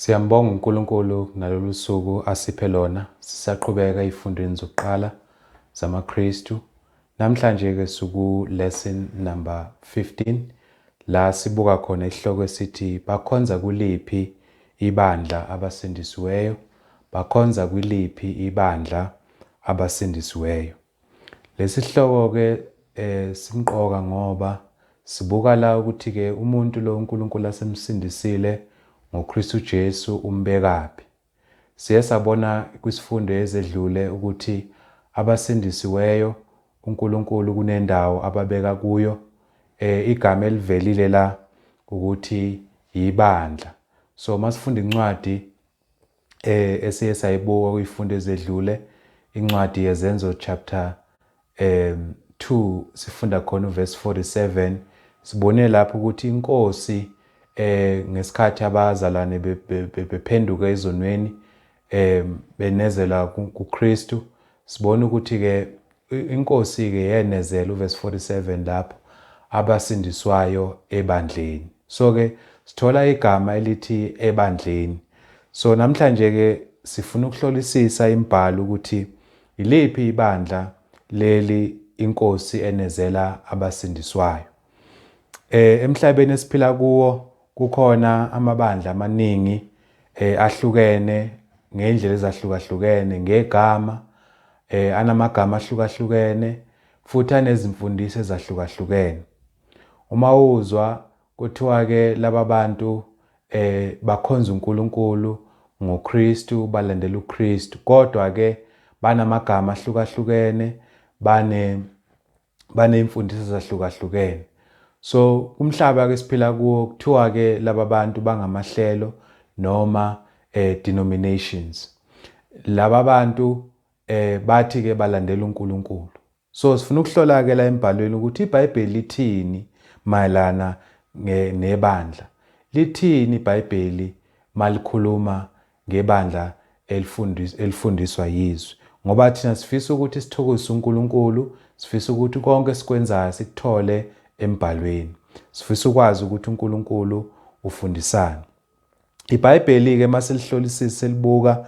Siyambonga uNkulunkulu ngalolu suku asiphe lona sisaqhubeka ey'fundweni zokuqala zamaKristu. Namhlanje-ke siku-lesson number 15 la sibuka khona isihloko esithi bakhonza kuliphi ibandla abasindisiweyo, bakhonza kwiliphi ibandla abasindisiweyo. Lesihloko-ke eh, simqoka ngoba sibuka la ukuthi-ke umuntu lo uNkulunkulu asemsindisile ngoKristu Jesu umbekaphi. Siye sabona kwisifundo ezedlule ukuthi abasindisiweyo uNkulunkulu kunendawo ababeka kuyo eh, igama elivelile la ukuthi yibandla. So masifunda incwadi eh esiye sayibuka kuyifundo ezedlule incwadi yezenzo chapter um 2 sifunda khona uverse 47 sibone lapho ukuthi inkosi eh ngesikhathi abazalwane bephenduka ezonweni eh benezela kuKristu sibona ukuthi ke INkosi-ke yenezela uvesi 47 lapho abasindiswayo ebandleni. So-ke sithola igama elithi ebandleni. So namhlanje-ke sifuna ukuhlolisisa imibhalo ukuthi yiliphi ibandla leli iNkosi enezela abasindiswayo. Eh emhlabeni esiphila kuwo kukhona amabandla amaningi eh ahlukene ngeindlela ezahlukahlukene ngegama eh anamagama ahlukahlukene futhi anezimfundiso ezahlukahlukene. Uma uzwa kuthiwa ke laba bantu eh bakhonza uNkulunkulu ngoKristu balandela uKristu kodwa ke banamagama ahlukahlukene bane baney'mfundiso ezahlukahlukene so kumhlaba ke siphila kuwo kuthiwa ke laba bantu bangamahlelo noma eh, denominations laba bantu eh, bathi ke balandela uNkulunkulu so sifuna ukuhlola ke la embhalweni ukuthi iBhayibheli lithini mayelana nebandla lithini iBhayibheli malikhuluma ngebandla elifundis, elifundiswa yizwi. Ngoba thina sifisa ukuthi sithokozise uNkulunkulu, sifisa ukuthi konke esikwenzayo sikuthole embhalweni. Sifisa ukwazi ukuthi uNkulunkulu ufundisani. IBhayibheli-ke masilihlolisisa selibuka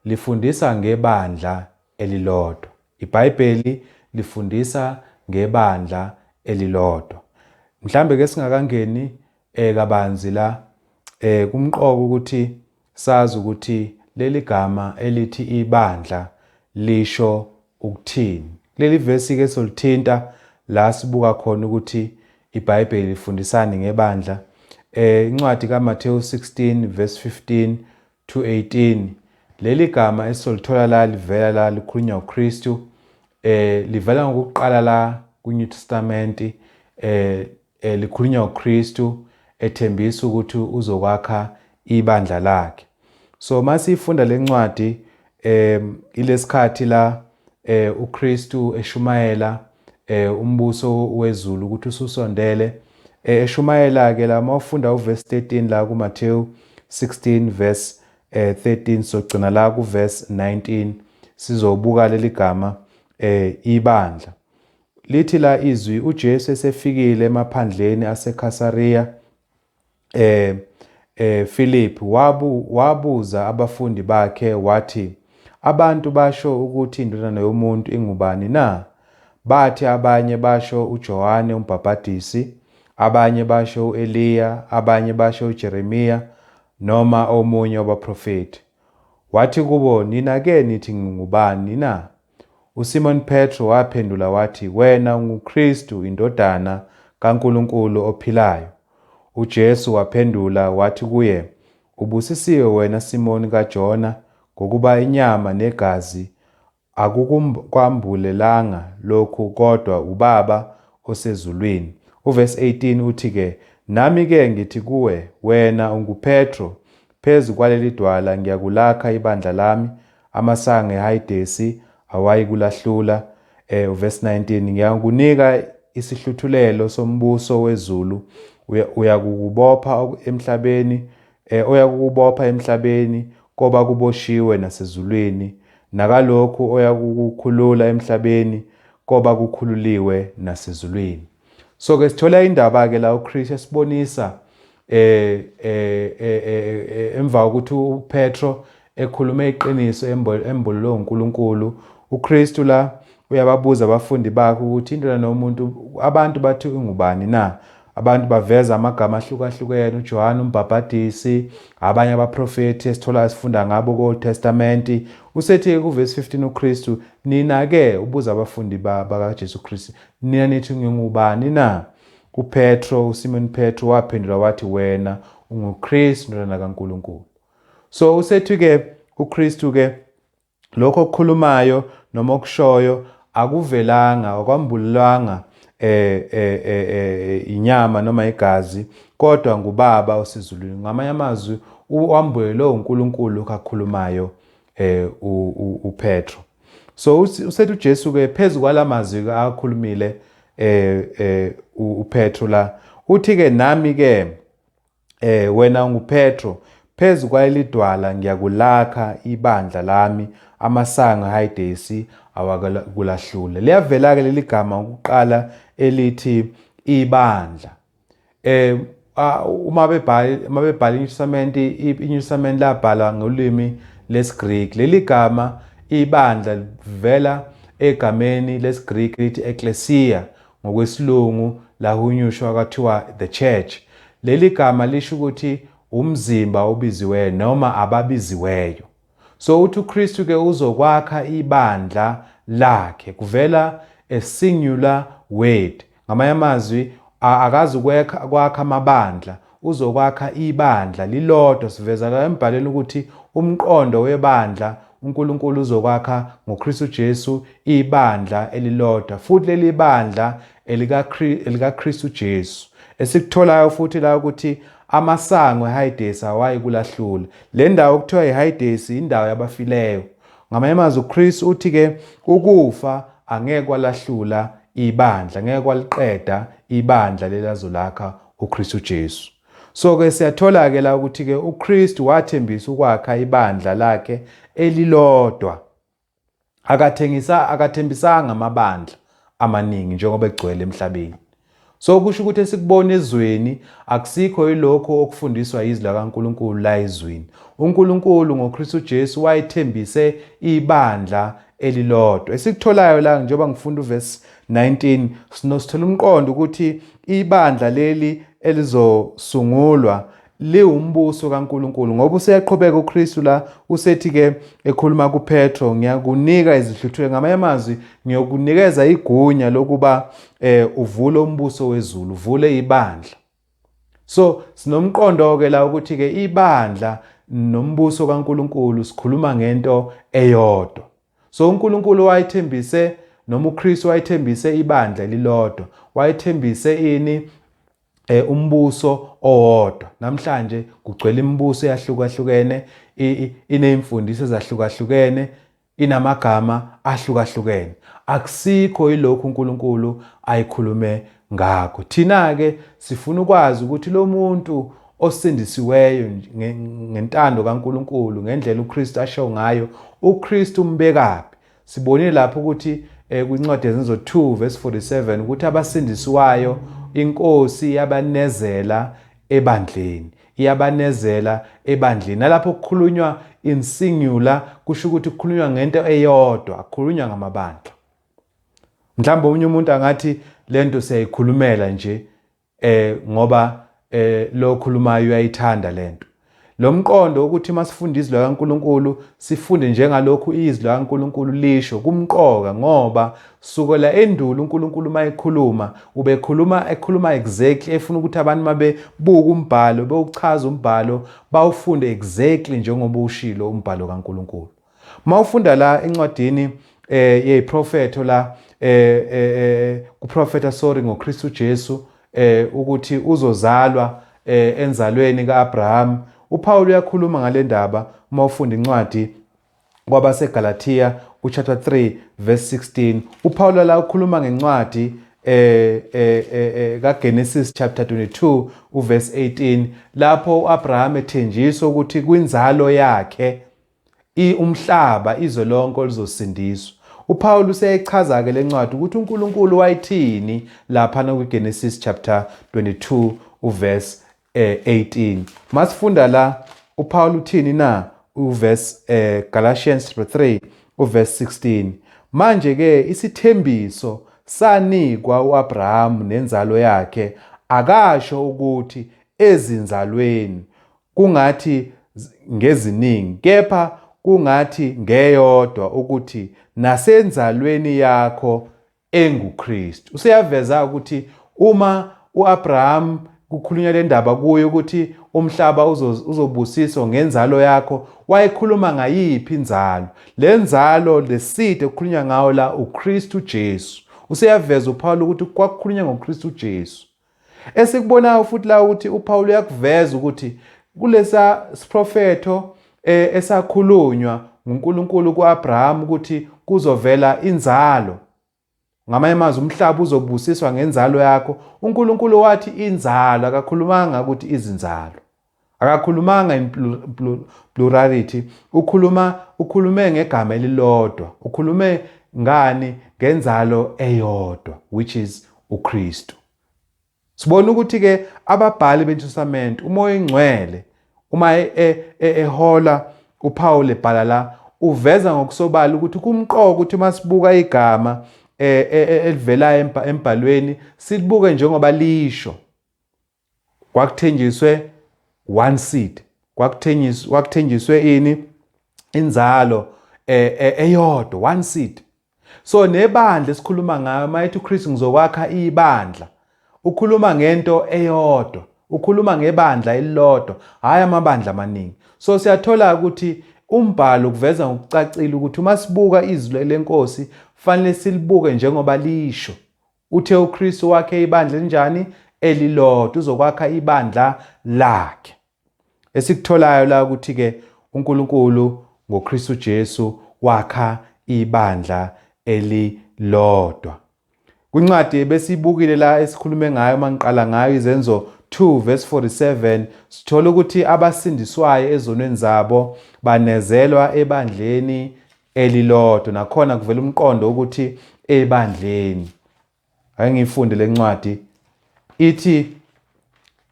lifundisa ngebandla elilodwa. IBhayibheli lifundisa ngebandla elilodwa. Mhlambe ke singakangeni eh, kabanzi la, eh, kumqoka ukuthi sazi ukuthi leli gama elithi ibandla lisho ukuthini. Kuleli vesi-ke solithinta la sibuka khona ukuthi iBhayibheli lifundisani ngebandla. Eh, incwadi kaMathewu 16 verse 15 2:18 Leli gama esizolithola la livela la likhulunywa uKristu eh livela ngokuqala la kwiNew Testament eh, eh likhulunywa uKristu ethembisa ukuthi uzokwakha ibandla lakhe so masifunda lencwadi Eh ilesikhathi la eh uKristu eshumayela eh umbuso wezulu ukuthi ususondele Eh, eshumayela-ke la uma ufunda uverse 13 la kumathewu 16 verse eh, 13 sogcina la kuverse 19 sizobuka leli gama eh, ibandla lithi la izwi ujesu esefikile emaphandleni asekhasariya Eh, eh, Philip wabu, wabuza abafundi bakhe wathi, Abantu basho ukuthi indodana yomuntu ingubani na? Bathi abanye basho uJohane umbhabhadisi, abanye basho uEliya, abanye basho uJeremiya noma omunye wabaprofeti. Wathi kubo, Nina-ke nithi ngingubani na? USimoni Petru waphendula wathi, Wena unguKristu, iNdodana kaNkulunkulu ophilayo. UJesu waphendula wathi kuye, Ubusisiwe wena Simoni kaJona, ngokuba inyama negazi akukukwambulelanga lokhu kodwa uBaba osezulwini. Uvesi 18 uthi-ke, Nami-ke ngithi kuwe, Wena unguPetru, Phezu kwaleli dwala ngiyakulakha ibandla lami, amasango eHayidesi awayikulahlula. E, uvesi 19, Ngiyakunika isihluthulelo sombuso wezulu, uya, uyakukubopha emhlabeni, e, oyakukubopha emhlabeni koba kuboshiwe nasezulwini, nakalokhu oyakukukhulula emhlabeni koba kukhululiwe nasezulwini. So ke sithola indaba ke la uChris esibonisa eh, eh, eh, eh, eh emva ukuthi uPetro ekhulume iqiniso embululwe uNkulunkulu uKristu la uyababuza abafundi bakhe ukuthi indlela nomuntu abantu bathi ungubani na abantu baveza amagama ahlukahlukene uJohane umbhabhadisi abanye abaprofethi esithola sifunda ngabo ko Testament usethi ku verse 15 uKristu nina ke ubuza abafundi bakaJesu Kristu Nina nithi ngingubani na? UPetro, uSimoni Petro, waphendula wathi, Wena unguKristu, indodana kaNkulunkulu. So usethi-ke uKristu-ke lokho okukhulumayo noma okushoyo akuvelanga akwambulelwanga eh, eh, eh, eh, inyama noma igazi kodwa ngubaba osezulwini ngamanye amazwi wambulelwe unkulunkulu kakhulumayo eh, upetro So usethi uJesu ke phezu kwalamazwi ke akhulumile eh eh uPetro la uthi ke nami ke eh wena nguPetro phezu kwalelidwala ngiyakulakha ibandla lami amasanga hayidesi awakulahlule liyavela ke leligama ukuqala elithi ibandla um uma bebhala uma bebhala iNew Testament iNew Testament labhalwa ngolimi lesiGriki leli gama ibandla livela egameni lesiGriki lithi ecclesia ngokwesilungu lahunyushwa kwathiwa the church leli gama lisho ukuthi umzimba obiziweyo noma ababiziweyo So uthi uKristu ke uzokwakha ibandla lakhe. Kuvela a singular word. Ngamanye amazwi akazi kwekha kwakha amabandla, uzokwakha ibandla lilodwa. Siveza la embhalweni ukuthi umqondo webandla uNkulunkulu uzokwakha ngoKristu Jesu ibandla elilodwa futhi leli bandla elikaKristu Jesu. Esikutholayo futhi la ukuthi amasango eHayidesi awayikulahlula. Le ndawo okuthiwa iHayidesi indawo yabafileyo. Ngamanye amazwi uChris uthi ke ukufa angeke kwalahlula ibandla, ngeke kwaliqeda ibandla lelazolakha uKristu Jesu. So ke siyathola ke la ukuthi ke uKristu wathembisa ukwakha ibandla lakhe elilodwa akathengisa akathembisanga amabandla amaningi njengoba egcwele emhlabeni so kusho ukuthi esikubona ezweni akusikho yilokho okufundiswa yizwi lakaNkuluNkulu la ezweni uNkuluNkulu ngoKristu Jesu wayethembise ibandla elilodwa esikutholayo la njengoba ngifunda uverse 19 sinosithola umqondo ukuthi ibandla leli elizosungulwa liwumbuso kaNkulunkulu ngoba useyaqhubeka uKristu la usethi ke ekhuluma kuPetro ngiyakunika izihluthwe ngamanye amazwi ngiyokunikeza igunya lokuba eh uvule umbuso wezulu uvule ibandla so sinomqondo ke la ukuthi ke ibandla nombuso kaNkuluNkulu sikhuluma ngento eyodwa so uNkulunkulu wayethembise noma uKristu wayethembise ibandla lilodwa wayethembise ini eh umbuso owodwa namhlanje kugcwele imibuso eyahlukahlukene inezimfundiso ezahlukahlukene inamagama ahlukahlukene akusikho ilokhu uNkulunkulu ayikhulume ngakho thina ke sifuna ukwazi ukuthi lo muntu osindisiweyo ngentando kaNkuluNkulu ngendlela uKristu asho ngayo uKristu umbekaphi Sibonile lapho ukuthi eh, kwincwadi yezenzo 2 verse 47 ukuthi abasindiswayo inkosi yabanezela ebandleni iyabanezela ebandleni nalapho kukhulunywa in singular kusho ukuthi kukhulunywa ngento eyodwa kukhulunywa ngamabandla mhlawumbe omunye umuntu angathi lento siyayikhulumela nje eh ngoba eh lo okhulumayo uyayithanda lento lo mqondo ukuthi uma sifunda izwi lakaNkulunkulu sifunde njengalokhu izwi lakaNkulunkulu lisho kumqoka ngoba sukela endulo uNkulunkulu uma ekhuluma ubekhuluma ekhuluma exactly efuna ukuthi abantu uma bebuka umbhalo bewuchaza umbhalo bawufunde exactly njengoba ushilo umbhalo kaNkulunkulu Mawufunda la incwadini eh yeyiprofetho la eh, eh, eh kuprofetha sorry ngoKristu Jesu eh ukuthi uzozalwa eh enzalweni kaAbraham uPaul uyakhuluma ngalendaba uma ufunda incwadi kwabaseGalatia uchapter 3 verse 16 uPaul la ukhuluma ngencwadi eh, eh, eh, eh kaGenesis chapter 22 uverse 18 lapho uAbraham ethenjiswa ukuthi kwinzalo yakhe I umhlaba, izwe lonke oluzosindiswa. UPawulu useyichaza-ke le ncwadi ukuthi uNkulunkulu wayithini laphana kwiGenesis chapter 22 uverse eh, 18. Masifunda la uPawulu uthini na uverse eh, Galatians chapter 3 uverse 16. Manje ke isithembiso sanikwa uAbraham nenzalo yakhe akasho ukuthi ezinzalweni Kungathi ngeziningi, kepha kungathi ngeyodwa ukuthi nasenzalweni yakho enguKristu. Useyaveza ukuthi uma uAbraham kukhulunywa le ndaba kuye ukuthi umhlaba uzobusiswa ngenzalo yakho, wayekhuluma ngayiphi inzalo? Le nzalo leside kukhulunywa ngawo la uKristu Jesu. Useyaveza uPawulu ukuthi kwakukhulunywa ngoKristu Jesu. Esikubonayo futhi la ukuthi uPawulu uyakuveza ukuthi kulesa siprofetho eh, esakhulunywa nguNkulunkulu kuAbraham ukuthi kuzovela inzalo ngamanye amazwi umhlaba uzobusiswa ngenzalo yakho uNkulunkulu wathi inzalo akakhulumanga ukuthi izinzalo Akakhulumanga in plurality, ukhuluma ukhulume ngegama elilodwa. Ukhulume ngani ngenzalo eyodwa which is uKristu. Sibona ukuthi ke ababhali beNtshusamente umoya ingcwele uma e, e, e, ehola uPaul ebhala la uveza ngokusobala ukuthi kumqoka ukuthi masibuka igama elivelayo embhalweni silibuke njengoba lisho kwakuthenjiswe one seed kwakuthenjiswe kwakuthenjiswe ini inzalo eh, eh, eyodwa one seed so nebandla esikhuluma ngayo mayethi uKristu ngizokwakha ibandla ukhuluma ngento eyodwa ukhuluma ngebandla elilodwa hayi amabandla amaningi so siyathola ukuthi umbhalo kuveza ngokucacile ukuthi uma sibuka izwi lenkosi fanele silibuke njengoba lisho Uthe uKristu wakhe ibandla elinjani? Elilodwa, uzokwakha ibandla lakhe. Esikutholayo la ukuthi-ke uNkulunkulu ngoKristu Jesu wakha ibandla elilodwa. Kwincwadi ebesiyibukile la esikhulume ngayo uma ngiqala ngayo izenzo 2 verse 47 sithola ukuthi abasindiswayo ezonweni zabo banezelwa ebandleni elilodwa nakhona kuvela umqondo ukuthi ebandleni ake ngifunde lencwadi ithi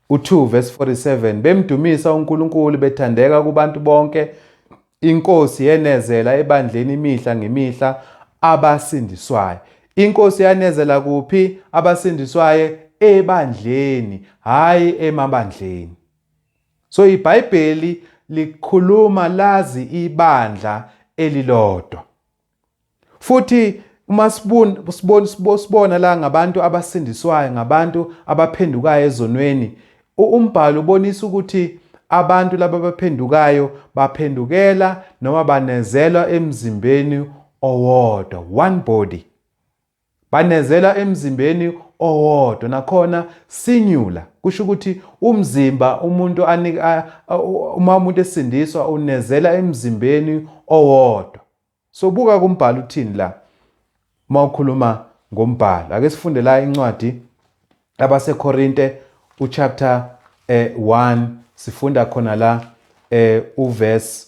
u2 verse 47 bemdumisa uNkulunkulu bethandeka kubantu bonke inkosi yenezela ebandleni imihla ngemihla abasindiswayo inkosi yanezela kuphi abasindiswayo ebandleni hayi emabandleni So iBhayibheli likhuluma lazi ibandla elilodwa. Futhi uma sibona sibona sibona la ngabantu abasindiswayo ngabantu abaphendukayo ezonweni umbhalo ubonisa ukuthi abantu laba baphendukayo baphendukela noma banezelwa emzimbeni owodwa one body Banezela emzimbeni owodwa nakhona singular kusho ukuthi umzimba umuntu anika uma umuntu esindiswa unezela emzimbeni owodwa so buka kumbhalo uthini la uma ukhuluma ngombhalo ake sifunde la incwadi abaseKorinte uchapter eh 1 sifunda khona la eh uverse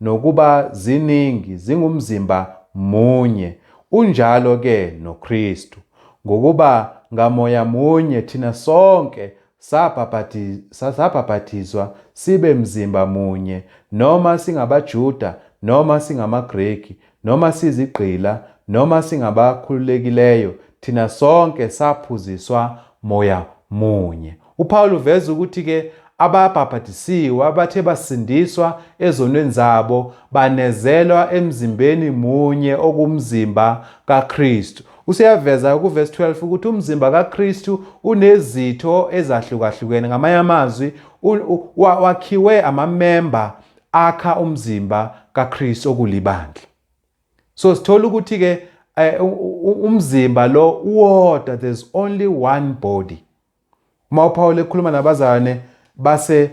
Nokuba ziningi, zingumzimba munye, unjalo ke noKristu. Ngokuba ngaMoya munye thina sonke sabhabhathizwa sibe mzimba munye, noma singabaJuda, noma singamaGreki, Noma sizigqila noma singabakhululekileyo, thina sonke saphuziswa Moya munye. UPawulu uveza ukuthi-ke ababhabhadisiwe abathe basindiswa ezonweni zabo banezelwa emzimbeni munye okumzimba kaKristu. Useyaveza kuvesi 12 ukuthi umzimba kaKristu unezitho ezahlukahlukene. Ngamanye amazwi, wakhiwe amamemba akha umzimba kaKristu okulibandla so sithola ukuthi ke eh, umzimba lo uwodwa there's only one body uma uPaul ekhuluma nabazane base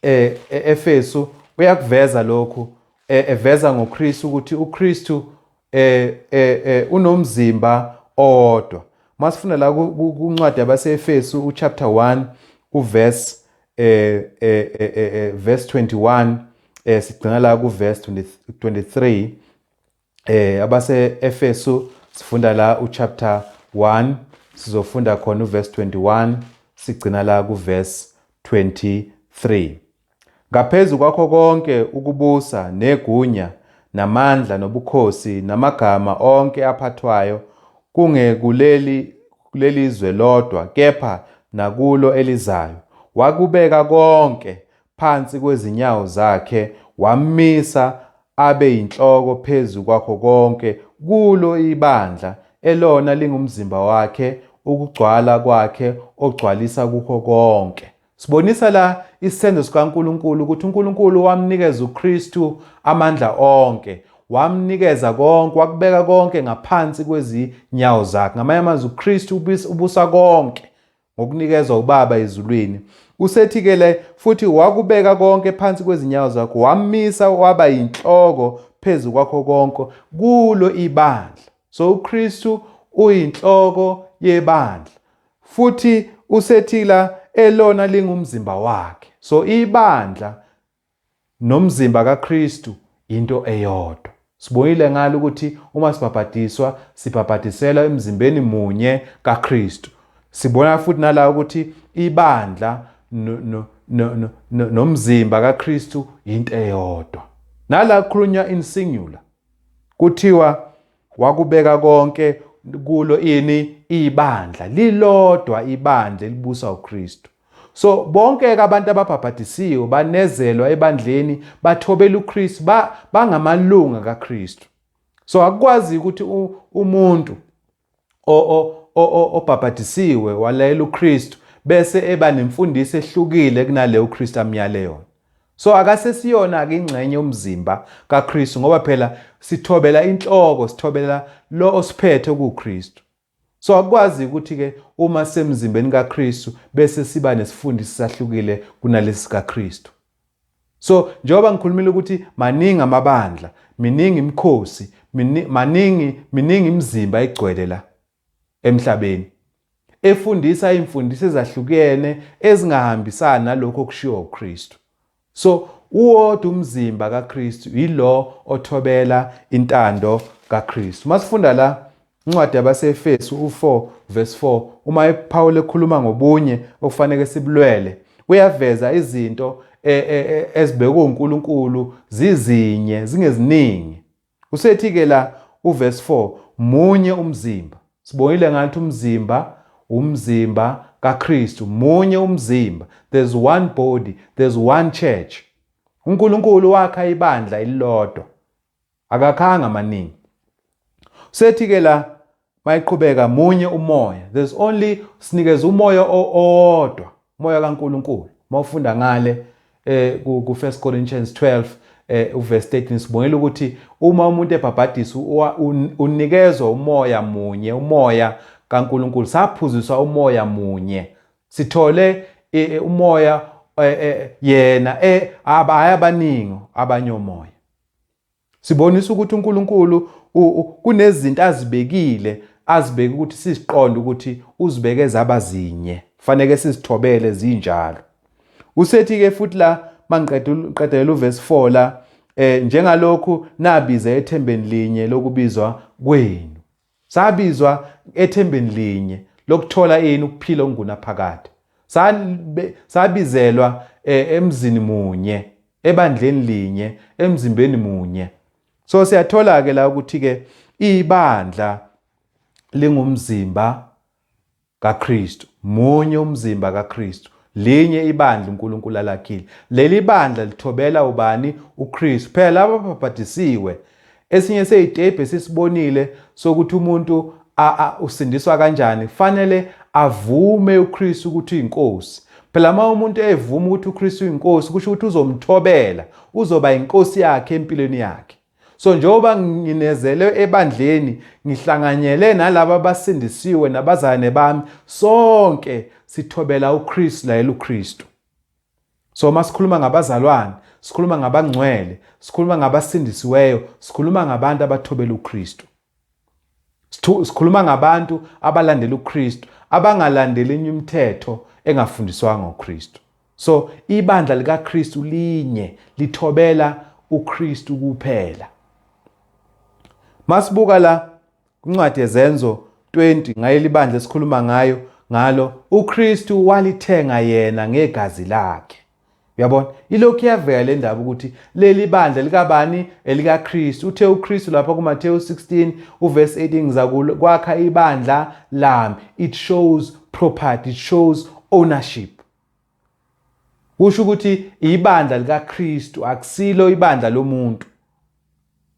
eh, e-, Efesu uyakuveza lokhu eh, eveza ngoKristu ukuthi uKristu eh, eh, eh, unomzimba owodwa masifuna la kuncwadi yabaseEfesu uchapter 1 uverse eh, eh, eh, eh, eh verse 21 eh sigcina la ku verse 23 eh abase Efesu sifunda la u chapter 1 sizofunda khona u verse 21 sigcina la ku verse 23 Ngaphezulu kwakho konke ukubusa negunya namandla nobukhosi namagama onke aphathwayo kungekuleli kuleli zwe lodwa kepha nakulo elizayo, wakubeka konke phansi kwezinyawo zakhe, wammisa abe yinhloko phezu kwakho konke, kulo ibandla, elona lingumzimba wakhe, ukugcwala kwakhe ogcwalisa kukho konke. Sibonisa la isenzo sikaNkulunkulu ukuthi uNkulunkulu wamnikeza uKristu amandla onke wamnikeza konke wakubeka konke ngaphansi kwezinyawo zakhe ngamanye amazwi uKristu ubusa konke ngokunikezwa ubaba ezulwini usethi ke le futhi wakubeka konke phansi kwezinyawo zakho wamisa waba yinhloko phezu kwakho konke kulo ibandla so uKristu uyinhloko yebandla Futhi usethila elona lingumzimba wakhe. So ibandla nomzimba kaKristu into eyodwa. Sibonile ngalo ukuthi uma sibhabhadiswa sibhabhadiselwa emzimbeni munye kaKristu. Sibona futhi nala ukuthi ibandla nomzimba kaKristu into eyodwa. Nala kukhulunywa in singular. Kuthiwa Wakubeka konke kulo ini ibandla lilodwa ibandla elibusa uKristu so bonke ke abantu ababhabhadisiwe banezelwa ebandleni bathobela uKristu ba, bangamalunga kaKristu so akukwazi ukuthi umuntu obhabhadisiwe walayela uKristu bese eba nemfundiso ehlukile kunaleyo uKristu amyale yona So akasesiyona ke ingxenye yomzimba kaKristu ngoba phela sithobela inhloko, sithobela lo osiphethe kuKristu. So akukwazi ukuthi ke uma semzimbeni kaKristu bese siba nesifundisi sahlukile kunalesi kaKristu. So njengoba ngikhulumile ukuthi maningi amabandla, miningi imikhosi, maningi miningi imizimba egcwele la. emhlabeni, efundisa imfundiso ezahlukene ezingahambisani nalokho okushiwo uKristu. So uwodwa umzimba kaKristu yilo othobela intando kaKristu. Masifunda la incwadi yabaseEfesu u4 verse 4 uma ePaul ekhuluma ngobunye okufanele sibulwele uyaveza izinto e, e, e, ezibekwe uNkulunkulu zizinye zingeziningi. Usethi-ke la uverse 4, Munye umzimba. Sibonile ngathi umzimba, umzimba kaKristu. Munye umzimba. There's one body, there's one church. UNkulunkulu wakha ibandla elilodwa. Akakhanga amaningi. Usethi-ke la Mayiqhubeka munye umoya. There's only sinikeza umoya owodwa, umoya kaNkulunkulu. Mawufunda ngale eh ku 1 Corinthians 12 eh uverse 13 sibongela ukuthi uma umuntu ebhabhadisa unikezwa umoya munye, umoya kaNkulunkulu. Saphuziswa umoya munye. Sithole eh, eh, umoya eh, yena eh abaningi abanyomoya. Sibonisa ukuthi uNkulunkulu kunezinto azibekile azibeke ukuthi siziqonde ukuthi uzibeke zaba zinye faneke sizithobele zinjalo usethi ke futhi la mangiqedela uvesi 4 la eh njengalokhu nabiza ethembeni linye lokubizwa kwenu Sabizwa ethembeni linye lokuthola ini ukuphila okungunaphakade. Sabizelwa e, emzini munye, ebandleni linye, emzimbeni munye. So siyathola ke la ukuthi ke ibandla lingumzimba KaKristu. Munye umzimba kaKristu. Linye ibandla uNkulunkulu alakhile. Leli bandla lithobela ubani? UKristu. Phela laba ababhabhadisiwe. Esinye seyitebhe esisibonile sokuthi umuntu usindiswa kanjani kufanele avume uKristu ukuthi uyinkosi phela uma umuntu evuma ukuthi uKristu uyinkosi kusho ukuthi uzomthobela uzoba inkosi yakhe empilweni yakhe So njengoba nginezelwe ebandleni ngihlanganyele nalabo abasindisiwe nabazalwane bami sonke sithobela uKristu layela uKristu. So uma sikhuluma ngabazalwane, sikhuluma ngabangcwele, sikhuluma ngabasindisiweyo, sikhuluma ngabantu abathobela uKristu. Sikhuluma ngabantu abalandela uKristu, abangalandeli enye imithetho engafundiswanga uKristu. So ibandla likaKristu linye lithobela uKristu kuphela. Masibuka la incwadi yezenzo 20 ngaye libandla esikhuluma ngayo ngalo uKristu walithenga yena ngegazi lakhe. Uyabona? Ilokhu iyavela le ndaba ukuthi leli bandla likabani elikaKristu. Uthe uKristu lapha kuMathewu 16 uverse 18 ngizakwakha ibandla lami. It shows property, it shows ownership. Kusho ukuthi ibandla likaKristu akusilo ibandla lomuntu.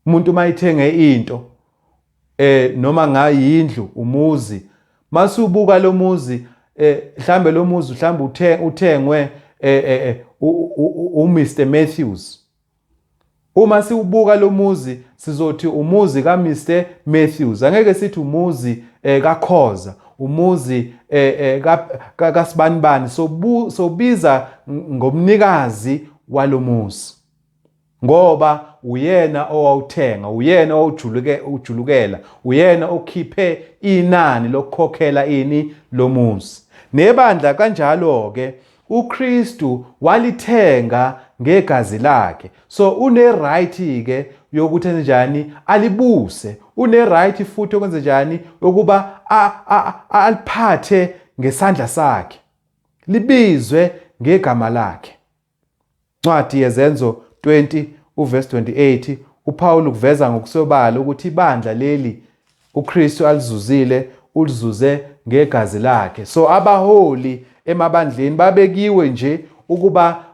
umuntu uma ithenge into eh noma ngayindlu umuzi masubuka lo muzi eh mhlambe lo muzi mhlambe uthe uthengwe eh, eh, eh u Mr Matthews uma siwubuka lo muzi sizothi umuzi ka Mr Matthews angeke sithi umuzi eh, ka Khoza umuzi eh, eh, ka kasibanibani sobiza ngomnikazi walomuzi Ngoba uyena owawuthenga, uyena owawujuluke ujulukela, uyena okhiphe inani lokukhokhela ini lomuzi. Nebandla kanjalo ke uKristu walithenga ngegazi lakhe. So une right ke yokuthi enzenjani alibuse, une right futhi okwenzenjani yokuba aliphathe ngesandla sakhe. Libizwe ngegama lakhe. Ncwadi yeZenzo 20 uvesi 28 uPawulu kuveza ngokusobala ukuthi ibandla leli uKristu alizuzile ulizuze ngegazi lakhe. So abaholi emabandleni babekiwe nje ukuba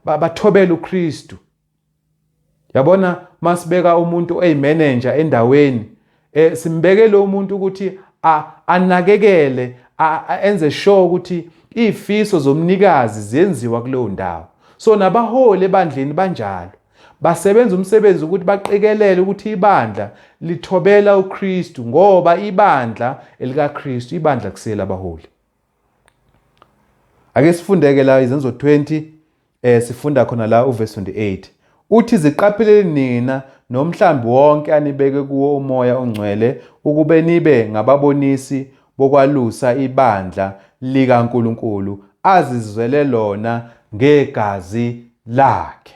bathobele uKristu yabona masibeka umuntu oyimanager endaweni eh simbekele umuntu ukuthi anakekele enze sure ukuthi izifiso zomnikazi ziyenziwa kuleyo ndawo so nabaholi ebandleni banjalo basebenza umsebenzi ukuthi baqikelele ukuthi ibandla lithobela uKristu ngoba ibandla elikaKristu ibandla kusela abaholi ake sifundeke la izenzo 20 eh sifunda khona la uverse 28 uthi ziqapheleni nina nomhlambi wonke anibeke kuwo umoya ongcwele ukube nibe ngababonisi bokwalusa ibandla likaNkuluNkulu azizwele lona ngegazi lakhe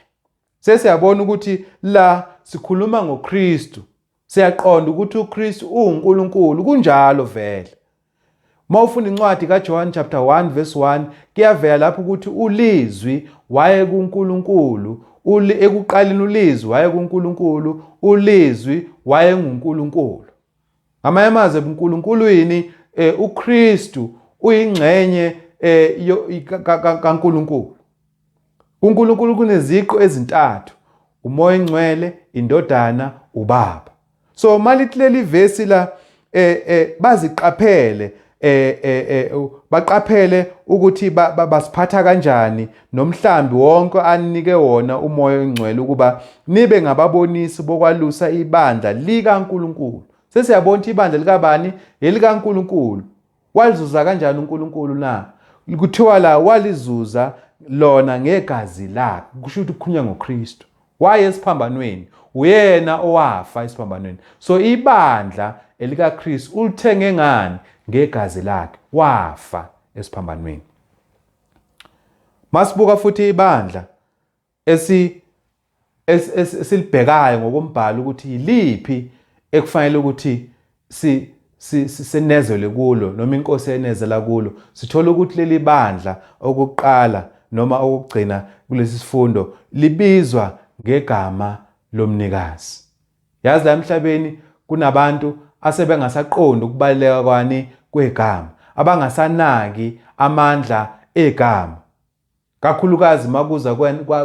sesiyabona ukuthi la sikhuluma ngoKristu Siyaqonda ukuthi uKristu uwuNkulunkulu kunjalo vele. Uma ufunda incwadi kaJohn chapter 1 verse 1 kuyavela lapho ukuthi ulizwi waye kuNkulunkulu, uli ekuqaleni ulizwi waye kuNkulunkulu, ulizwi waye nguNkulunkulu. Ngamanye amazwi ubuNkulunkulu yini eh, uKristu uyingxenye eh, kaNkulunkulu. KuNkulunkulu kuneziqu ezintathu, uMoya Engcwele, iNdodana, uBaba. So malithi leli vesi la eh, eh, baziqaphele eh, eh, eh, baqaphele ukuthi ba, ba, basiphatha kanjani nomhlambi wonke anike wona umoya ongcwele ukuba nibe ngababonisi bokwalusa ibandla likaNkuluNkulu. Sesiyabona ukuthi ibandla likabani? ElikaNkuluNkulu. Walizuza kanjani uNkulunkulu na? Kuthiwa la walizuza lona ngegazi lakhe, kusho ukuthi kukhulunywa ngoKristu. Waye esiphambanweni, uyena owafa esiphambanweni. So ibandla elikaKristu ulithenge ngani? Ngegazi lakhe, wafa esiphambanweni. Masibuka futhi ibandla esi esilibhekayo ngokombhalo ukuthi yiliphi ekufanele ukuthi si sinezelwe kulo noma inkosi enezela kulo sithola ukuthi leli bandla okuqala noma okugcina kulesi sifundo libizwa ngegama lomnikazi yazi la emhlabeni kunabantu asebengasaqondi ukubaleka kwani kwegama abangasanaki amandla egama kakhulukazi makuza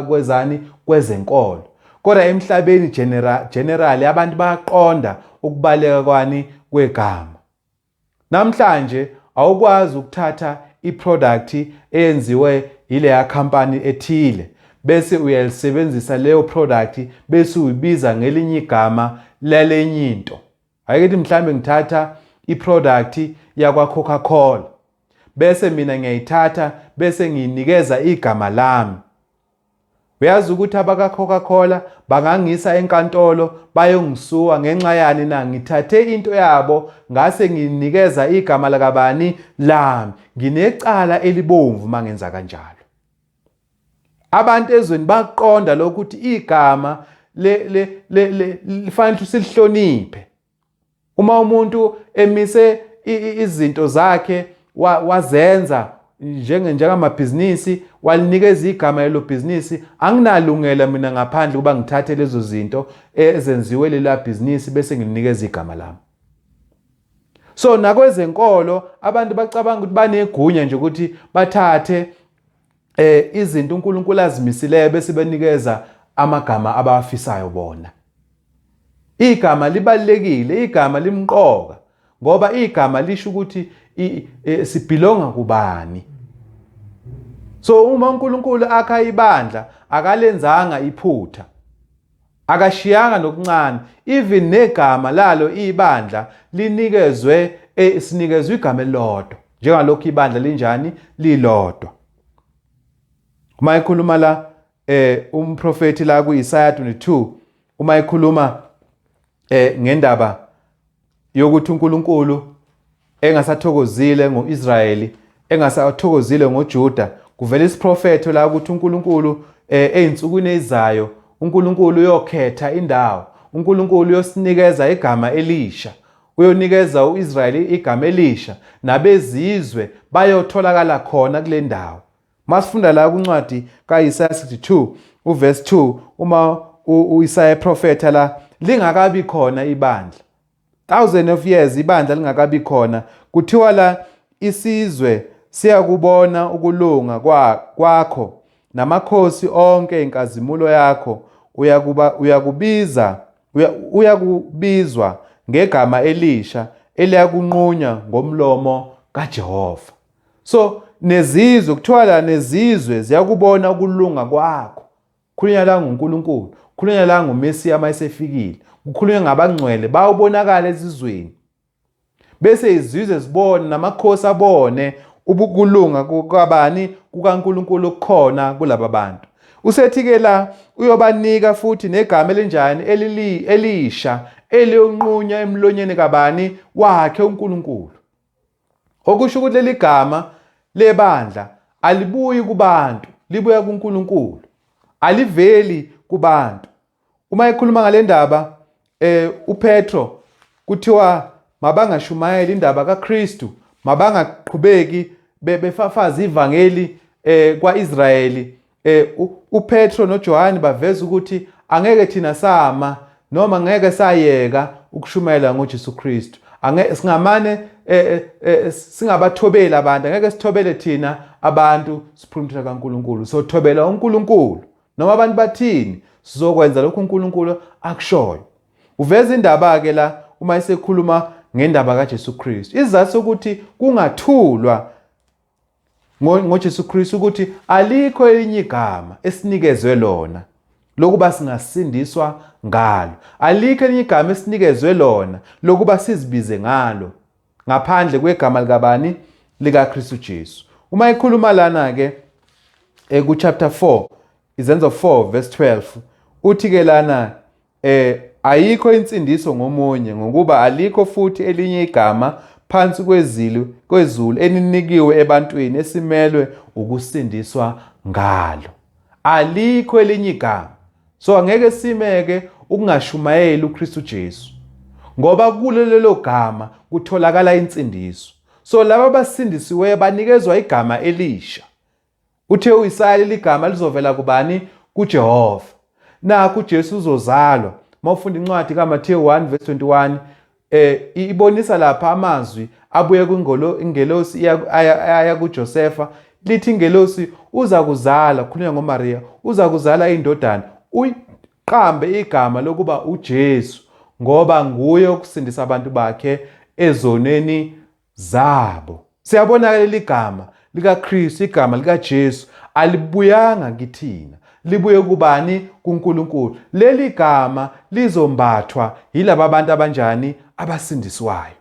kwezani kwezenkolo kodwa emhlabeni general generally abantu bayaqonda ukubaleka kwani kwegama namhlanje awukwazi ukuthatha iproduct eyenziwe yileya company ethile bese uyalisebenzisa leyo product bese uyibiza ngelinye igama lalenye into Ayikithi mhlambe ngithatha iproduct yakwa Coca Cola bese mina ngiyayithatha bese ngiyinikeza igama lami Uyazi ukuthi abaka Coca Cola bangangisa enkantolo bayongisuwa ngenxa yani na ngithathe into yabo ngase nginikeza igama lakabani lami nginecala elibomvu mangenza kanjalo Abantu ezweni bakuqonda lokho ukuthi igama le le le lifanele silihloniphe. Uma umuntu emise izinto zakhe wazenza njenge njengamabhizinisi walinikeza igama lelo bhizinisi anginalungela mina ngaphandle kuba ngithathe lezo zinto ezenziwe lela bhizinisi bese ngilinikeza igama lami so nakwezenkolo abantu bacabanga ukuthi banegunya nje ukuthi bathathe eh izinto uNkulunkulu azimisileyo bese benikeza amagama abawafisayo bona igama libalekile igama limqoka ngoba igama lisho ukuthi e, sibhilonga kubani so uma uNkulunkulu akha ibandla akalenzanga iphutha Akashiyanga nokuncane even negama lalo ibandla linikezwe e, sinikezwe igama elilodwa njengalokhu ibandla linjani lilodwa. Uma ekhuluma la eh umprofeti la kuIsaya 22 uma ekhuluma eh ngendaba yokuthi uNkulunkulu engasathokozile ngoIsrayeli engasathokozile ngoJuda kuvela isiprofetho la ukuthi uNkulunkulu eh, ezinsukwini ezizayo uNkulunkulu uyokhetha indawo uNkulunkulu uyosinikeza igama elisha uyonikeza uIsrayeli igama elisha nabezizwe bayotholakala khona kule ndawo Masifunda la kuncwadi kaIsaya 62 uverse 2 uma uIsaya eprofetha la lingakabi khona ibandla. Thousand of years ibandla lingakabi khona kuthiwa la isizwe siyakubona ukulunga kwakho namakhosi onke inkazimulo yakho uyakuba uyakubiza uyakubizwa ngegama elisha eliyakunqunywa ngomlomo kaJehova. So nezizwe kuthiwa la nezizwe ziyakubona ukulunga kwakho. Khulunywa la nguNkulunkulu, khulunywa la nguMesiya uma esefikile. Kukhulunywa ngabangcwele bawubonakala ezizweni. Bese izizwe zibone namakhosi abone ubukulunga kwabani kukaNkulunkulu okukhona kulaba bantu. Usethi-ke la uyobanika futhi negama elinjani elisha eliyonqunywa emlonyeni kabani wakhe uNkulunkulu. Okusho ukuthi leli gama lebandla alibuyi kubantu, libuya kuNkulunkulu. Aliveli kubantu. Uma ekhuluma ngale ndaba eh uPetro kuthiwa mabangashumayeli indaba kaKristu, mabangaqhubeki befafaza ivangeli eh kwaIsrayeli Eh uPetro noJohane baveza ukuthi angeke thina sama noma ngeke sayeka ukushumayela ngoJesu Kristu. Angeke singamane eh, eh, eh, singabathobeli abantu, angeke sithobele thina abantu siphulumthela kaNkuluNkulu. Sothobela uNkuluNkulu. Noma abantu bathini, sizokwenza lokho uNkuluNkulu akushoyo. Uveza indaba ke la uma esekhuluma ngendaba kaJesu Kristu. Izathu sokuthi kungathulwa ngoJesu Kristu ukuthi alikho elinye igama esinikezwe lona lokuba singasindiswa ngalo. Alikho elinye igama esinikezwe lona lokuba sizibize ngalo ngaphandle kwegama likabani likaKristu Jesu. Uma ikhuluma lana ke eku eh, chapter 4 izenzo 4 verse 12 uthi ke lana Eh, ayikho insindiso ngomunye, ngokuba alikho futhi elinye igama phansi kwezulu, kwezulu eninikiwe ebantwini esimelwe ukusindiswa ngalo. Alikho elinye igama. So angeke simeke ukungashumayeli uKristu Jesu. Ngoba kulo lelo gama kutholakala insindiso. So laba basindisiweyo banikezwa igama elisha. Uthe uIsaya leli gama lizovela kubani? KuJehova. Nakho uJesu uzozalwa. Uma ufunda incwadi kaMathewu 1 verse 21 eh ibonisa lapha amazwi abuye kwingolo ingelosi aya kuJosefa lithi ingelosi uza kuzala khulunywa ngoMaria uza kuzala indodana uyiqambe igama lokuba uJesu ngoba nguye okusindisa abantu bakhe ezoneni Zabo. Siyabonakala iligama likaKristu, igama likaJesu alibuyanga kithina. Libuye kubani? KuNkulunkulu. Leli gama lizombathwa yilaba bantu abanjani? Abasindiswayo.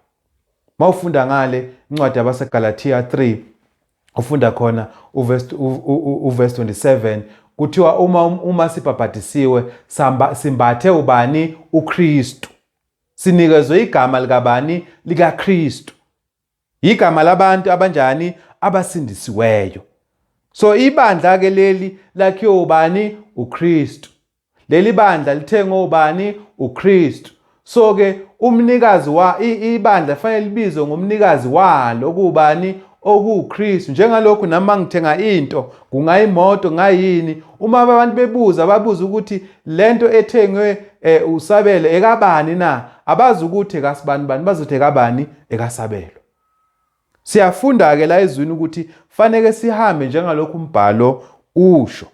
Mawufunda ngale incwadi yabaseGalatia 3 ufunda khona uverse uverse 27 kuthiwa uma uma sibhabhadisiwe simbathe ubani uKristu Sinikezwe igama likabani? LikaKristu. Yigama labantu abanjani? Abasindisiweyo. So ibandla ke leli lakhiwe ubani? UKristu. Leli bandla lithengwe ubani? UKristu. So ke umnikazi wa ibandla fanele libizwe ngomnikazi walo okubani? okuwuKristu njengalokhu nami mangithenga into kungayimoto ngayini uma abantu bebuza babuza ukuthi lento ethengwe eh, usabele ekabani na abazi ukuthi ekasibani bani bazothi ekabani ekasabelo siyafunda ke la ezwini ukuthi faneke sihambe njengalokhu umbhalo usho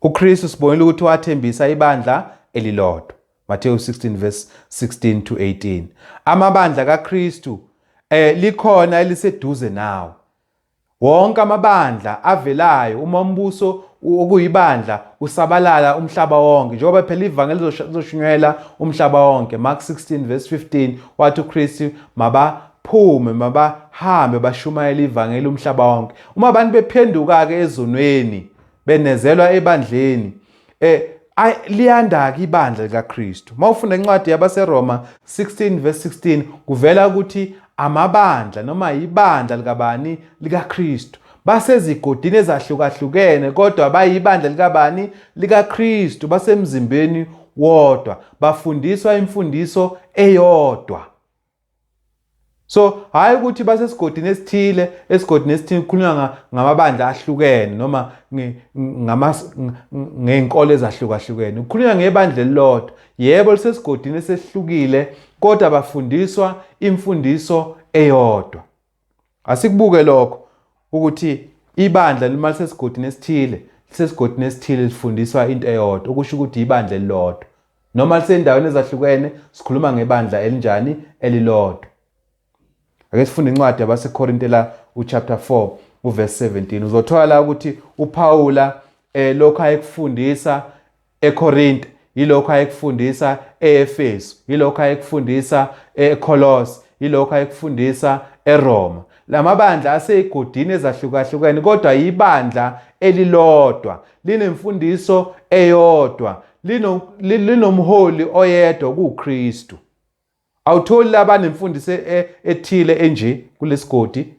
uKristu sibonile ukuthi wathembisa ibandla elilodwa Matthew 16 verse 16 to 18 amabandla kaKristu eh likhona eliseduze nawo Wonke amabandla avelayo uma umbuso okuyibandla usabalala umhlaba wonke njengoba phela ivangeli lizoshunyela umhlaba wonke Mark 16 verse 15 wathi uKristu mabaphume mabahambe bashumayela ivangeli umhlaba wonke uma abantu bephenduka ke ezonweni benezelwa ebandleni Eh liyandaki ibandla likaKristu. Mawufunda incwadi yabaseRoma 16 verse 16 kuvela ukuthi amabandla noma ibandla likabani likaKristu basezigodini ezahlukahlukene kodwa bayibandla likabani likaKristu basemzimbeni wodwa bafundiswa imfundiso eyodwa so hhayi ukuthi basesigodini esithile esigodini esithile kukhulunywa ngamabandla ahlukene noma ngey'nkolo ezahlukahlukene kukhulunywa ngebandla elilodwa yebo lisesigodini esehlukile kodwa bafundiswa imfundiso eyodwa Asikubuke lokho ukuthi ibandla lima lisesigodini esithile, lisesigodini esithile lifundiswa into eyodwa, okusho ukuthi ibandla elilodwa. Noma lisendaweni ezahlukene, sikhuluma ngebandla elinjani elilodwa. Ake sifunde incwadi yabaseKorinte la uchapter 4 uverse 17. Uzothola la ukuthi uPawula eh lokho ayekufundisa eKorinte yilokho ayekufundisa eEfesu yilokho ayekufundisa eKolose yilokho ayekufundisa eRoma lamabandla aseyigodini ezahlukahlukene kodwa yibandla elilodwa linemfundiso eyodwa linomholi oyedwa kuKristu Awutholi laba banemfundiso e, e, ethile enje kulesigodi,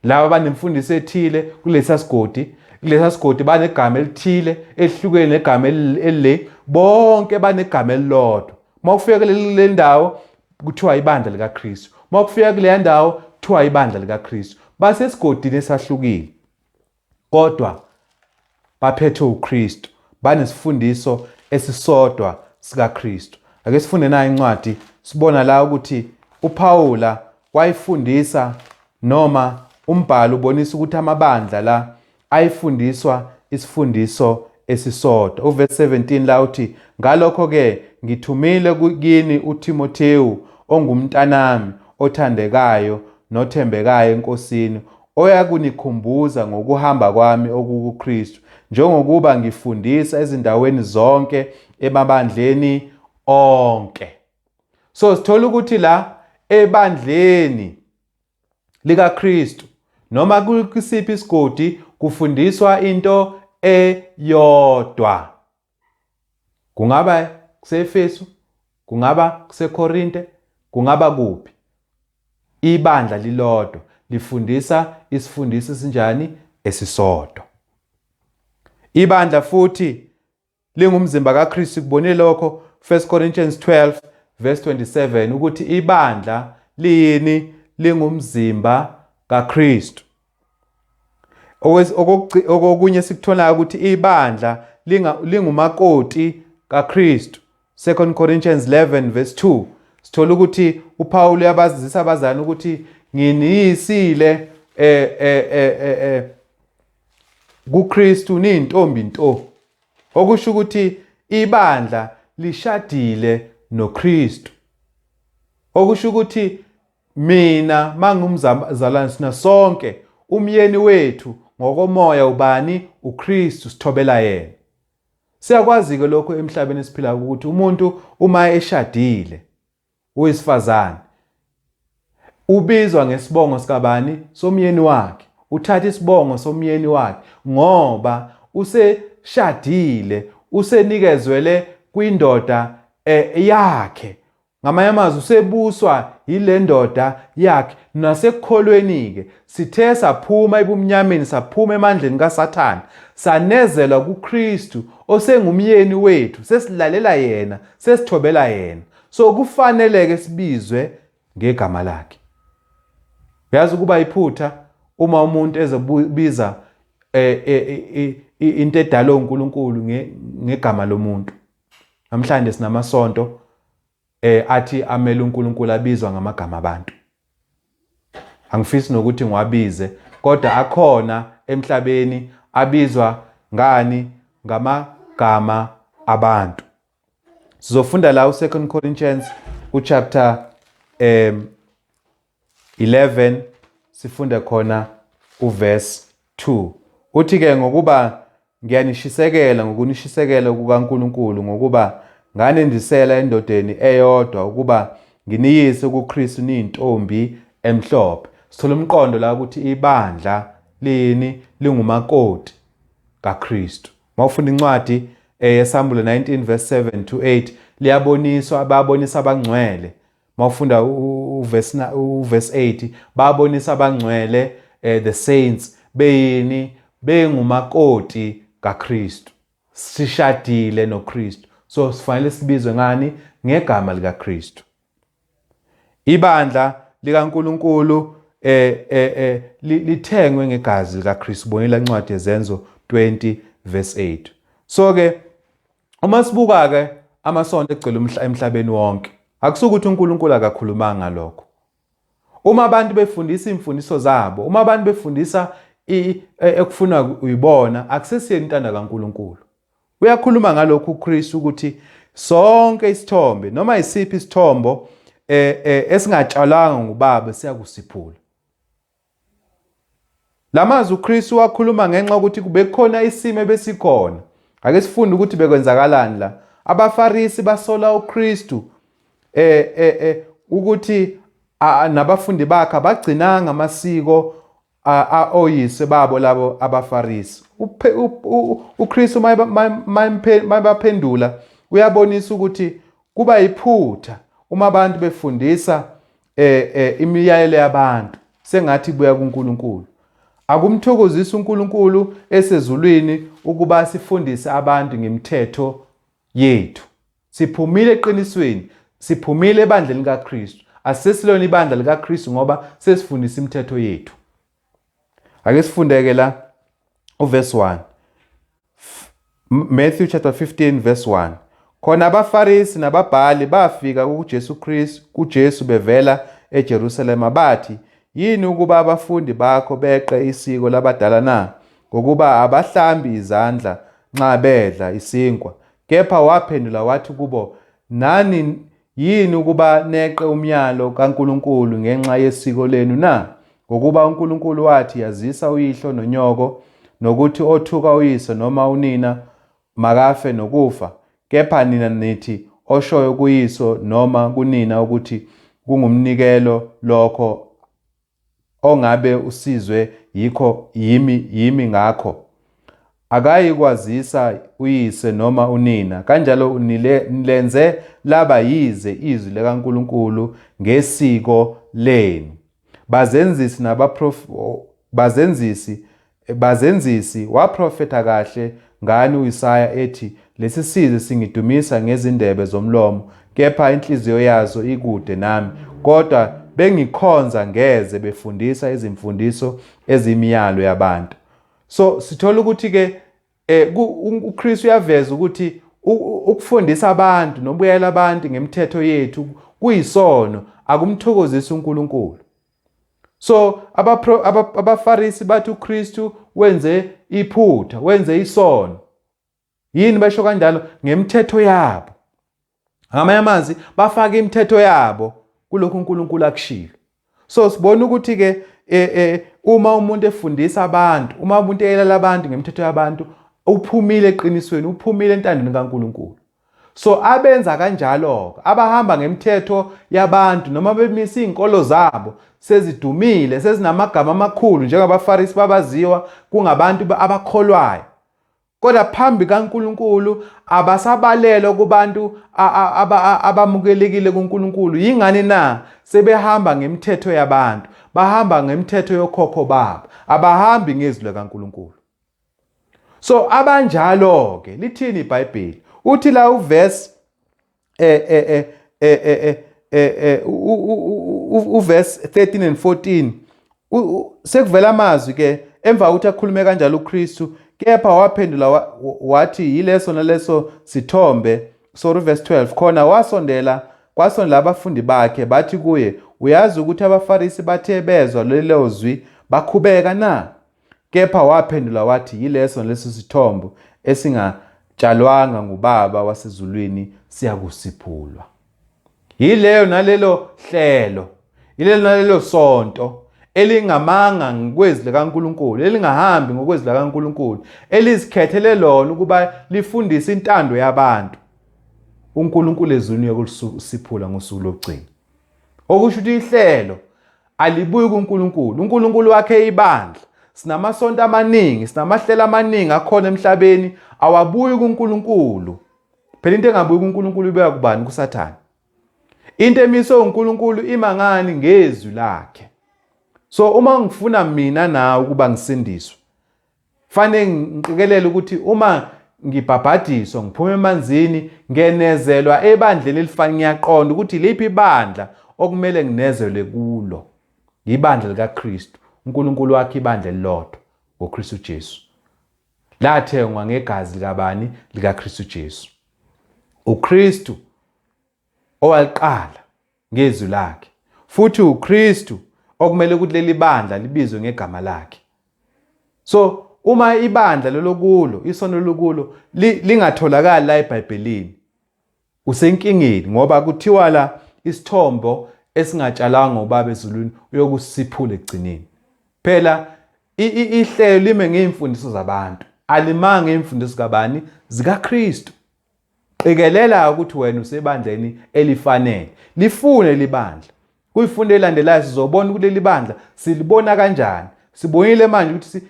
laba banemfundiso ethile kulesa sigodi, kulesa sigodi banegama elithile elihlukene negama elile, bonke banegama elilodwa. Uma ufika kule ndawo kuthiwa ibandla likaKristu. Uma kufika kuleya ndawo kuthiwa ibandla likaKristu. Basesigodini esahlukile. Kodwa baphethwe uKristu, banesifundiso esisodwa sikaKristu. Ake sifunde nayo incwadi, sibona la ukuthi uPawula wayifundisa noma umbhalo ubonisa ukuthi amabandla la ayifundiswa isifundiso esisodwa. Uverse 17 la uthi, Ngalokho-ke ngithumile kini uThimothewu ongumntanami othandekayo nothembekayo eNkosini, oyakunikhumbuza ngokuhamba kwami okukuKristu, njengokuba ngifundisa ezindaweni zonke emabandleni onke. So sithola ukuthi la ebandleni likaKristu noma kusiphi isigodi kufundiswa into eyodwa. Kungaba kuseEfesu, kungaba kuseKorinte, kungaba kuphi. Ibandla lilodwa lifundisa isifundiso esinjani esisodwa. Ibandla futhi lingumzimba kaKristu kubone lokho 1 Corinthians 12 verse 27 ukuthi ibandla liyini lingumzimba kaKristu. okokunye esikutholayo ukuthi ibandla lingumakoti kaKristu 2 Corinthians 11 verse 2 sithola ukuthi uPaul uyabazisa abazali ukuthi nginiyisile eh eh eh eh, eh kuKristu nintombi nto okusho ukuthi ibandla lishadile noKristu okusho ukuthi Mina mangumzalwane sina sonke umyeni wethu ngokomoya ubani uKristu sithobela yena. Siyakwazi-ke lokho emhlabeni esiphila ukuthi umuntu uma eshadile uyisifazane ubizwa ngesibongo sikabani somyeni wakhe uthatha isibongo somyeni wakhe ngoba useshadile usenikezwele kwindoda eh, yakhe Ngamanye amazwi usebuswa yile ndoda yakhe nasekukholweni-ke. Sithe saphuma ebumnyameni saphuma emandleni kaSathane, sanezelwa kuKristu osengumyeni wethu, sesilalela yena, sesithobela yena. So kufanele-ke sibizwe ngegama lakhe. Uyazi ukuba iphutha uma umuntu ezobiza eh, eh, eh, into edalwe uNkulunkulu ngegama lomuntu. Namhlanje sinamasonto eh athi amele uNkulunkulu abizwa ngamagama abantu. Angifisi nokuthi ngiwabize kodwa akhona emhlabeni abizwa ngani ngamagama abantu. Sizofunda la u2 Corinthians uchapter um 11 sifunde khona uverse 2 uthi ke ngokuba ngiyanishisekela ngokunishisekela kukaNkuluNkulu ngokuba nganendisela endodeni eyodwa ukuba nginiyise kuKristu niyintombi emhlophe sithola umqondo la ukuthi ibandla lini lingumakoti kaKristu mawufunda incwadi eyesambulo eh, 19 verse 7 to 8 liyaboniswa ababonisa abangcwele mawufunda uverse na uverse 8 babonisa abangcwele eh, the saints beyini bengumakoti kaKristu sishadile noKristu so sifanele sibizwe ngani ngegama likaKristu ibandla likaNkuluNkulu eh eh, eh lithengwe ngegazi likaKristu bonela incwadi yezenzo 20 verse 8 so ke Uma sibuka ke amasonto egcwele umhla emhlabeni wonke, akusukuthi uNkulunkulu akakhulumanga ngalokho. Uma abantu befundisa imfundiso zabo, uma abantu befundisa e, ekufuna uyibona, akusesiyeni intanda kaNkulunkulu. Uyakhuluma ngalokho uKristu ukuthi sonke isithombe noma isiphi isithombo eh, eh, esingatshalwanga ngubaba siyakusiphula. La mazwi uKristu wakhuluma ngenxa yokuthi kubekukhona isimo ebesikhona. Ake sifunde ukuthi bekwenzakalani la. AbaFarisi basola uKristu eh eh eh ukuthi nabafundi bakhe abagcinanga amasiko oyise babo labo abaFarisi. UKristu mayebaphendula uyabonisa ukuthi kuba yiphutha uma abantu befundisa eh, eh, imiyalelo yabantu sengathi buya kuNkulunkulu. Akumthokozisi uNkulunkulu esezulwini ukuba sifundise abantu ngemithetho yethu. Siphumile eqinisweni, siphumile ebandleni likaKristu. Asesilona ibandla likaKristu ngoba sesifundisa imithetho yethu. ake sifundeke la uverse 1 Matthew chapter 15 verse 1 khona abafarisi nababhali bafika kuJesu Kristu kuJesu bevela eJerusalema bathi yini ukuba abafundi bakho beqe isiko labadala na ngokuba abahlambi izandla nxa bedla isinkwa kepha waphendula wathi kubo nani Yini ukuba neqe umyalo kaNkulunkulu ngenxa yesiko lenu na? Ngokuba uNkulunkulu wathi, Yazisa uyihlo nonyoko, nokuthi othuka uyise noma unina makafe nokufa. Kepha nina nithi, Oshoyo kuyiso noma kunina ukuthi kungumnikelo lokho ongabe usizwe yikho yimi yimi ngakho akayi kwazisa uyise noma unina kanjalo unile nilenze laba yize izwi likaNkulunkulu ngesiko lenu bazenzisi nabaprof bazenzisi Bazenzisi, waprofetha kahle ngani uIsaya ethi, Lesisizwe singidumisa ngezindebe zomlomo, kepha inhliziyo yaso ikude nami, kodwa bengikhonza ngeze befundisa izimfundiso eziyimiyalo yabantu. So sithola ukuthi ke eh uKristu uyaveza ukuthi ukufundisa abantu nokubuyela abantu ngemithetho yethu kuyisono akumthokozisi uNkulunkulu. so abafarisi bathi uKristu wenze iphutha wenze isono yini basho kanjalo ngemthetho yabo ngamanye amazwi bafaka imithetho yabo kulokhu uNkulunkulu akushilo so sibona ukuthi ke e, e, uma umuntu efundisa abantu uma umuntu eyela abantu ngemthetho yabantu uphumile eqinisweni uphumile entandweni kaNkuluNkulu So abenza kanjalo-ke, abahamba ngemithetho yabantu noma bemisa izinkolo zabo sezidumile, sezinamagama amakhulu njengabaFarisi babaziwa kungabantu abakholwayo. Kodwa phambi kaNkulunkulu abasabalelwa kubantu abamukelekile kuNkulunkulu. Yingani na? Sebehamba ngemithetho yabantu, bahamba ngemithetho yokhokho babo, abahambi ngezwi likaNkulunkulu. so abanjalo ke lithini iBhayibheli uthi la uverse eh eh eh eh eh, eh, eh uverse 13 and 14 sekuvela amazwi ke emva ukuthi akhulume kanjalo uKristu kepha waphendula wathi yileso naleso sithombe sorry verse 12 khona wasondela kwasondela abafundi bakhe bathi kuye uyazi ukuthi abaFarisi bathe bezwa lelo zwi bakhubeka na Kepha waphendula wathi, Yileso naleso sithombo esingatshalwanga nguBaba wasezulwini siyakusiphulwa. Yileyo nalelo hlelo, yilelo nalelo sonto elingamanga ngokwezwi likaNkulunkulu, elingahambi ngokwezwi likaNkulunkulu, elizikhethele lona ukuba lifundise intando yabantu. UNkulunkulu ezulwini uyokusiphula ngosuku lokugcina. Okusho ukuthi ihlelo Alibuyi kuNkulunkulu. UNkulunkulu wakhe ibandla. Sinamasonto amaningi, sinamahlelo amaningi akhona emhlabeni awabuyi kuNkulunkulu. Phela into engabuyi kuNkulunkulu ibeka kubani kuSathane. Into emiswe uNkulunkulu ima ngani ngezwi lakhe. So uma ngifuna mina nawe ukuba ngisindiswe Fanele ngiqikelele ukuthi uma ngibhabhadiswa ngiphuma emanzini ngenezelwa ebandleni elifanele ngiyaqonda ukuthi liphi ibandla okumele nginezelwe kulo yibandla likaKristu uNkulunkulu wakhe ibandla elilodwa ngoKristu Jesu lathengwa ngegazi likabani likaKristu Jesu uKristu owaliqala ngeZwi laKhe, futhi uKristu okumele ukuthi leli bandla libizwe ngegama lakhe so uma ibandla lolokulo isono lokulo lingatholakali la eBhayibhelini usenkingeni ngoba kuthiwa la isithombo esingatshalanga ubaba ezulwini uyokusiphula ekugcineni phela ihlelo lime ngeimfundiso zabantu alimanga imfundiso kabani zikaKristu Qikelela ukuthi wena usebandleni elifanele. Lifune leli bandla. Kwifundo elandelayo sizobona ukuthi leli bandla silibona kanjani. Sibonile manje ukuthi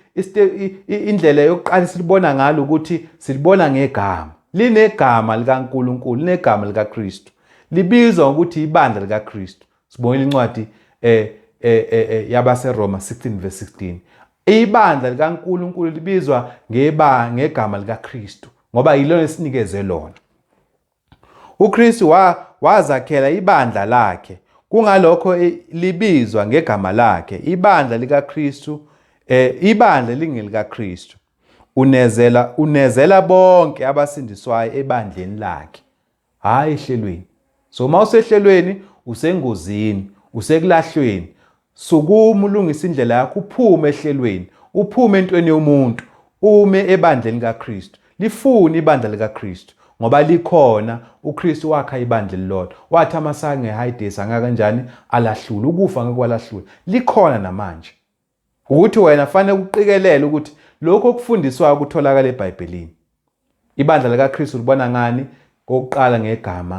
indlela yokuqala silibona ngalo ukuthi silibona ngegama. Linegama likaNkulunkulu, linegama likaKristu. Libizwa ngokuthi ibandla likaKristu. Sibongile incwadi eh eh eh, eh yabaseRoma 16 verse 16. Ibandla likaNkuluNkulu libizwa ngeba ngegama likaKristu ngoba yilona esinikeze lona. UKristu wa wazakhela ibandla lakhe kungalokho eh, libizwa ngegama lakhe ibandla likaKristu eh ibandla lingelikaKristu unezela unezela bonke abasindiswayo ebandleni lakhe Hhayi ehlelweni. So uma usehlelweni usengozini, usekulahlweni. Sukuma ulungise indlela yakho uphume ehlelweni, uphume entweni yomuntu, ume ebandleni kaKristu. Lifune ibandla likaKristu ngoba likhona uKristu wakha ibandla elilodwa. Wathi amasango eHayidesi angakanjani alahlula, ukufa ngeke kwalahlula. Likhona namanje. Ukuthi wena fanele kuqikelele ukuthi lokho okufundiswayo kutholakala eBhayibhelini. Ibandla likaKristu libona ngani kokuqala ngegama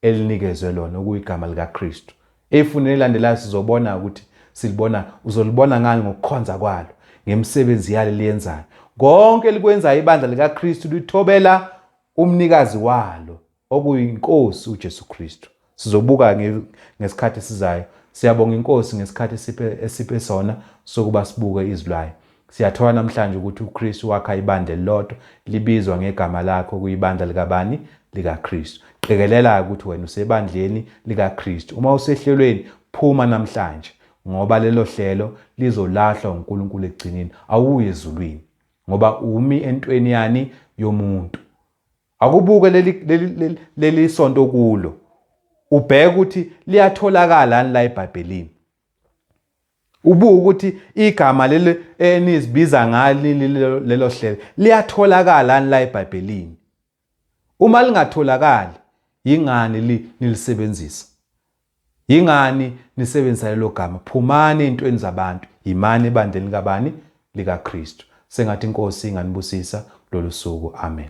elinikezwe lona okuyigama likaKristu. Efunini elilandelayo sizobona ukuthi silibona uzolibona ngani ngokukhonza kwalo, ngemisebenzi yalo liyenzayo. Konke likwenzayo ibandla likaKristu lithobela umnikazi walo okuyiNkosi uJesu Kristu. Sizobuka ngesikhathi esizayo. Siyabonga iNkosi ngesikhathi esiphe, esiphe sona sokuba sibuke izwi layo. Siyathola namhlanje ukuthi uKristu wakha ibandla elilodwa libizwa ngegama lakhe okuyibandla likabani? LikaKristu. Qikelela-ke ukuthi wena usebandleni likaKristu. Uma usehlelweni, phuma namhlanje ngoba lelo hlelo lizolahlwa uNkulunkulu ekugcineni. Awuyi ezulwini ngoba umi entweni yani yomuntu. Akubuke leli leli leli leli sonto okulo. Ubheke ukuthi liyatholakala yani la eBhayibhelini. Ubuke ukuthi igama leli enizibiza ngalo lelo hlelo liyatholakala yani la eBhayibhelini. Uma lingatholakali yingani li nilisebenzisa. Yingani nisebenzisa lelo gama? Phumani ey'ntweni zabantu, yimani ebandleni likabani? LikaKristu. Sengathi iNkosi inganibusisa kulolu suku. Amen.